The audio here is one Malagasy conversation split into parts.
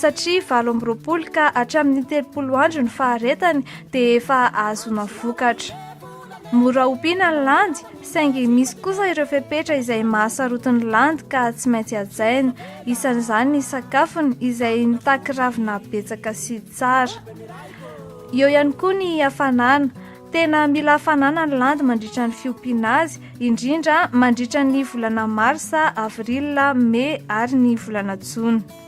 satria valo amby roapolo ka hatramin'ny telopolo andro ny faharetany dia efa ahazoana vokatra. Mora ompiana ny landy, saingy misy kosa ireo fepetra izay mahasarotin'ny landy ka tsy maintsy hajaina, isan'izany ny sakafony izay mitaky ravina betsaka sy tsara. Eo ihany koa ny hafanana, tena mila hafanana ny landy mandritra ny fiompiana azy, indrindra mandritra ny volana marsa, avril, mey ary ny volana jona.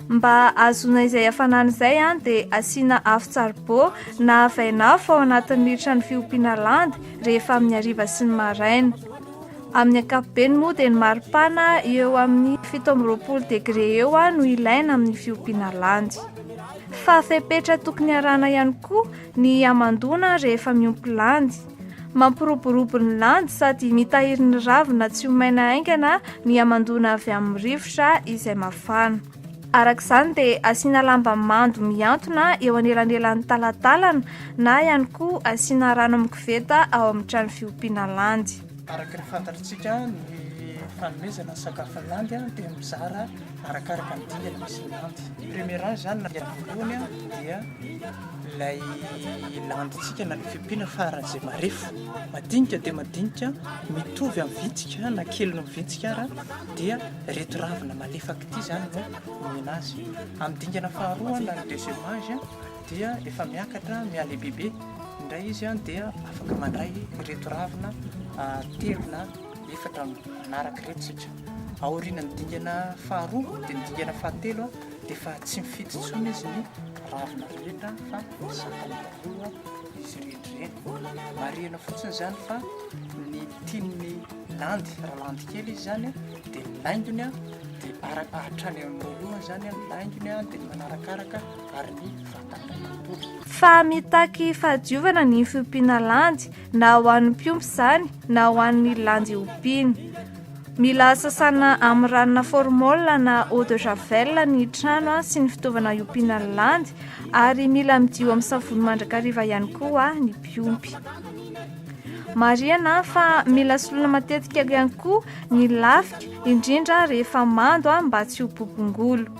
Mba ahazoana izay hafanana izay dia asiana afo tsaribô na vainafo ao anatin'ny militra ny fiompiana landy rehefa amin'ny hariva sy ny maraina. Amin'ny ankapobeny moa dia ny maripana eo amin'ny fito amby roapolo degre eo no ilaina amin'ny fiompiana landy. Fa fepetra tokony arahana ihany koa ny hamandoana rehefa miompy landy. Mampiroborobo ny landy sady mitahiry ny ravina tsy ho maina haingana ny hamandoana avy amin'ny rivotra izay mafana. Araka izany dia asiana lamba mando mihantona eo anelanelan'ny talantalana na ihany koa asiana rano amin'ny koveta ao amin'ny trano fiompiana landy. Araka ny fantatritsika, ny fanomezana ny sakafon'ny landy dia mizara arakaraka ny dingana misy ny landy. Premier âge zany na dia voalohany dia. Ilay landintsika na ilay fiompiana faran'izay marefo, madinika dia madinika, mitovy amin'ny vitsika na kely noho ny vitsika ara, dia ireto ravina malefaka ity izany no omena azy. Amin'ny dingana faharoa na ny deuxième âge dia efa miakatra mihalehibebe indray izy dia afaka mandray ireto ravina telo na efatra manaraka ireto isika. Aorianan'ny dingana faharoa dia ny dingana fahatelo Efa tsy mifidy intsony izy ny ravina rehetra fa zakany daholo izy rehetra ireny. Marihina fotsiny izany fa ny tian'ny landy, raha landy kely izy izany dia ny laingony dia hatrany amin'ny lohany izany ny laingony dia ny manarakaraka ary ny vatany iray manontolo. Fa mitaky fahadiovana ny fiompiana landy na ho an'ny mpiompy izany na ho an'ny landy ompiany. Mila sasana amin'ny ranona formol na eau de javel ny trano sy ny fitaovana iompiana ny landy ary mila midio amin'ny savony mandrakariva ihany koa ny mpiompy. Marihana fa mila soloina matetika ihany koa ny lafika indrindra rehefa mando mba tsy ho bobongolo.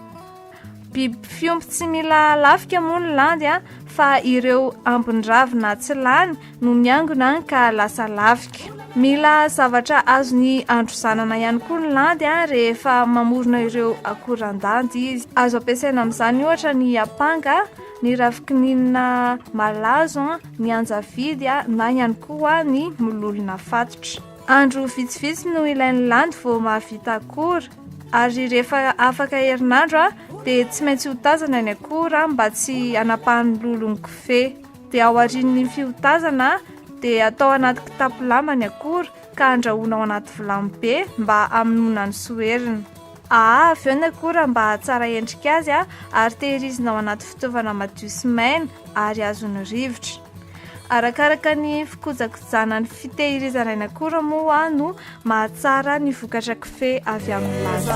Biby fiompy tsy mila lafika moa ny landy a, fa ireo ambin-dravina tsy lany no miangona ka lasa lafika. Mila zavatra azony androzanana ihany koa ny landy a, rehefa mamorona ireo akoran-dandy izy. Azo ampiasaina amin'izany ohatra ny apanga, ny ravikininina malazo, ny anjavidy na ihany koa ny mololona fatotra. Andro vitsivitsy no ilain'ny landy vao mahavita akora, ary rehefa afaka herinandro a dia tsy maintsy hotazana ny akora mba tsy anapahan'ny lolon'ny kofehy dia ao arin'ny fiotazana dia atao anaty kitapo lamba ny akora ka andrahoana ao anaty vilany be mba hamonoana ny soherina aa avy eo ny akora mba hahatsara endrika azy a ary tehirizina ao anaty fitaovana madio sy maina ary azon'ny rivotra Arakaraka ny fikojakojana ny fitehirizana ny akora moa no mahatsara ny vokatra kofehy avy amin'ny laza.